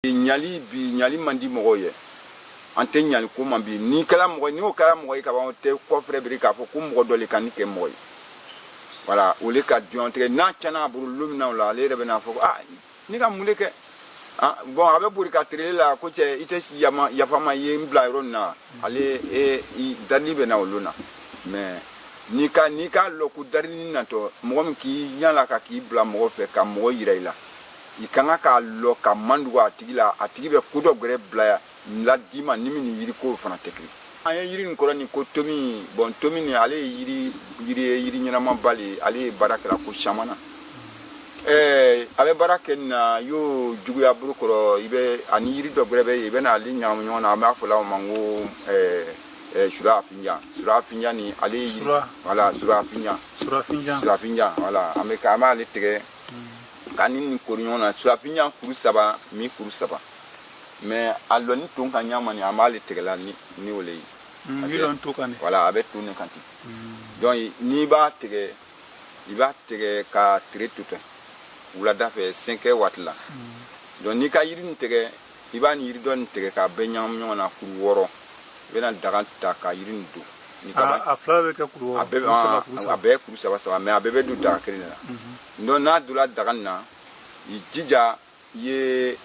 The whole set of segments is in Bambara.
ɲali bi ɲali man di mɔgɔw ye an tɛ ɲali ko ma bi n'i kɛla mɔgɔ ye ni o kɛla mɔgɔ ye kaban o tɛ kɔ filɛ bilen k'a fɔ ko mɔgɔ dɔ le ka ne kɛ mɔgɔ ye voilà o le ka jɔn tigɛ n'a tiɲɛna a bolo lon min na o la ale yɛrɛ bɛna fɔ ko ah ne ka mun le kɛ ah, bɔn a bɛ boli ka tere la ko cɛ i tɛ yafa n ma ye n bila yɔrɔ nin na ale e i darili bɛ na o lon na mais n'i ka n'i k'a lɔn ko darili natɔ mɔgɔ min k'i yaala ka k'i bila mɔgɔ fɛ ka mɔgɔ yira i la i ka kan k'a lɔn ka mandugu a tigi la a tigi bɛ ko dɔ gɛrɛ bila la d'i ma ni min ni yiri ko fana tɛ kelen an ye yiri nin kɔrɔ nin ko tomi bɔn tomi nin ale ye yiri yiri ye yiri ɲɛnamaba le ale ye baara kɛla ko caman na eh, a bɛ baara kɛ nin na y'o juguya bolo kɔrɔ i bɛ ani yiri dɔ gɛrɛ bɛ yen i bɛna ale ɲagami ɲɔgɔn na an b'a fɔ la o ma ko eh, eh, surafinjan surafinjan nin ale ye sura voilà surafinjan surafinjan surafinjan voilà an bɛ an b'ale tigɛ hmm. k'a ni nin kuru ɲɔgɔn na surafinjan kuru saba mi kuru saba mais a lɔni ton ka ɲa ma nin an b'ale tigɛla ni ni o le ye hmm, voilà a bɛ ton ne kan ten hmm. donc n'i b'a tigɛ i b'a tigɛ ka tile to ten wulada fɛ 5 heures waati la donc n'i ka yiri nin tigɛ i b'a ni yiri dɔ nin tigɛ k'a bɛɛ ɲagamu ɲɔgɔn na kuru wɔɔrɔ i bɛna daga ta ka yiri nin don a fila bɛ kɛ kuru wɔɔrɔ a bɛɛ kuru saba saba mais a bɛɛ bɛ don daga kelen le la donc n'a donna daga nin na i jija i ye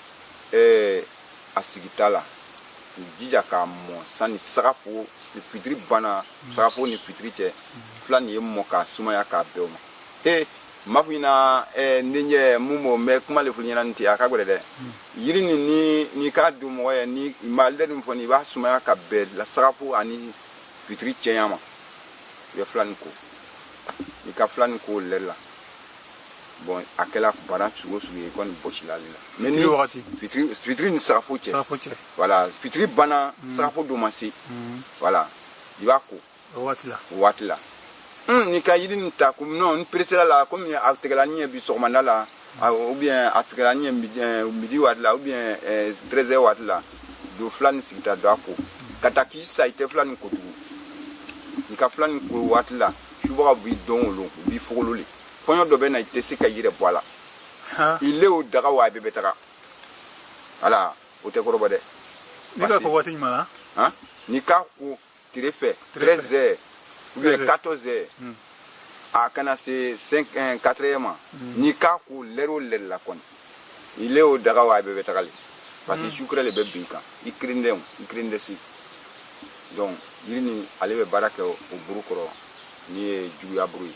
eh, a sigi ta la k'i jija k'a mɔ sani sagafo fitiri banna sagafo ni fitiri cɛ fila nin ye mɔ k'a sumaya k'a bɛn o ma he mafu ina eh, n denkɛ mun b'o mɛ kuma le fili ɲɛna nin tɛ a ka gɛlɛn dɛ yiri nin ni ni k'a don mɔgɔ ye ni i ma lɛri nin fɔ nin i b'a sumaya ka bɛn la sagafo ani fitiri cɛya ma i bɛ fila nin ko i ka fila nin ko lɛri la bɔn a kɛla bana sugu o sugu ye kɔni bɔsila ale la mais ni wagati fitiri fitiri ni sagafo cɛ sagafo cɛ voilà fitiri banna mm. sagafo don ma se mm. voilà i b'a ko o waati la o waati la mm, n'i ka yiri nin ta ko non n peresela la komi a tigɛla n ɲɛ bi sɔgɔmada la ou bien a tigɛla n ɲɛ midi waati la ou bien 13 heures waati la don fila nin sigi ta don a ko ka taa k'i sa i tɛ fila nin ko tugun i ka fila nin ko waati la subaga b'i don o lon u b'i fogolo le fɔɲɔ dɔ bɛ na i tɛ se ka i yɛrɛ bɔ a la i le o daga o a bɛɛ bɛ taga ala o tɛ kɔrɔbɔ dɛ n'i k'a ko waati ɲuman na han n'i k'a ko tile fɛ 13 heures ou bien 14 heures a kana se 5 4 heures ma n'i k'a ko lɛri o lɛri la kɔni i le o daga o a bɛɛ bɛ taga le parce que mm. sucre le bɛ bin i kan i kirindɛnw i kirindɛsi donc yiri nin ale bɛ baara kɛ o bolo kɔrɔ ni ye juguya bolo ye